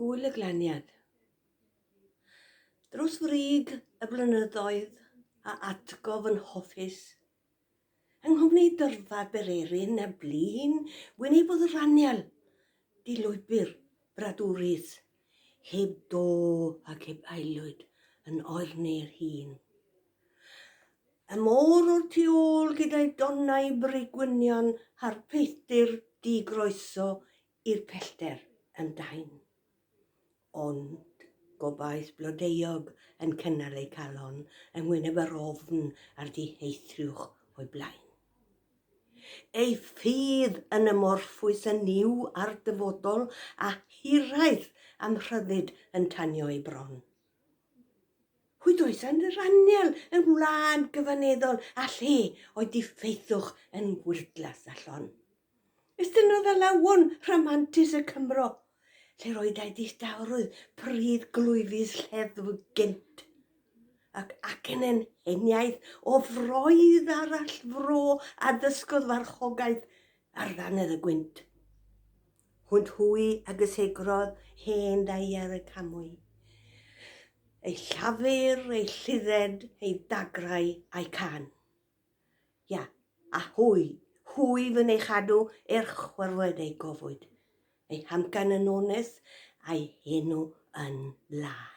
Gŵyl y Glaniad. Dros frig y blynyddoedd a atgof yn hoffus, yng nghwmni Dyrfa Bererin a Blin, wynebudd Raniel di lwybr bradwrus Heb do ac heb aelwyd yn oerni'r hun. Y môr o'r tu ôl gyda'i donnau bri gwynion a'r peilltir di groeso i'r pellter yn dain. Ond gobaith blodeuog yn cynnal ei calon yng ngwyneb yr ofn a'r diheithriwch o'i blaen. Ei ffydd yn amorffus yn niw a'r dyfodol a hiraeth am rhyddid yn tanio ei bron. Hyd oes yn yr anial yn wlad gyfaneddol a lle o'i diffeithwch yn wyrddlas a llon. Estynnodd alawon rhamantus y Cymro, lle'r oedai distawrwydd pridd glwyfus lleddfu gynt. ac acen heniaith o froedd arall fro a ddysgodd farchogaeth ar ddannedd y gwynt. Hwnt hwy a gysegrodd hen daier y camwy. Ei llafur, ei llidded, ei dagrau a'i can. Ia, a hwy, hwy fy ei chadw er chwerwed ei gofwyd, ei hamcan yn onest a'i henw yn lân.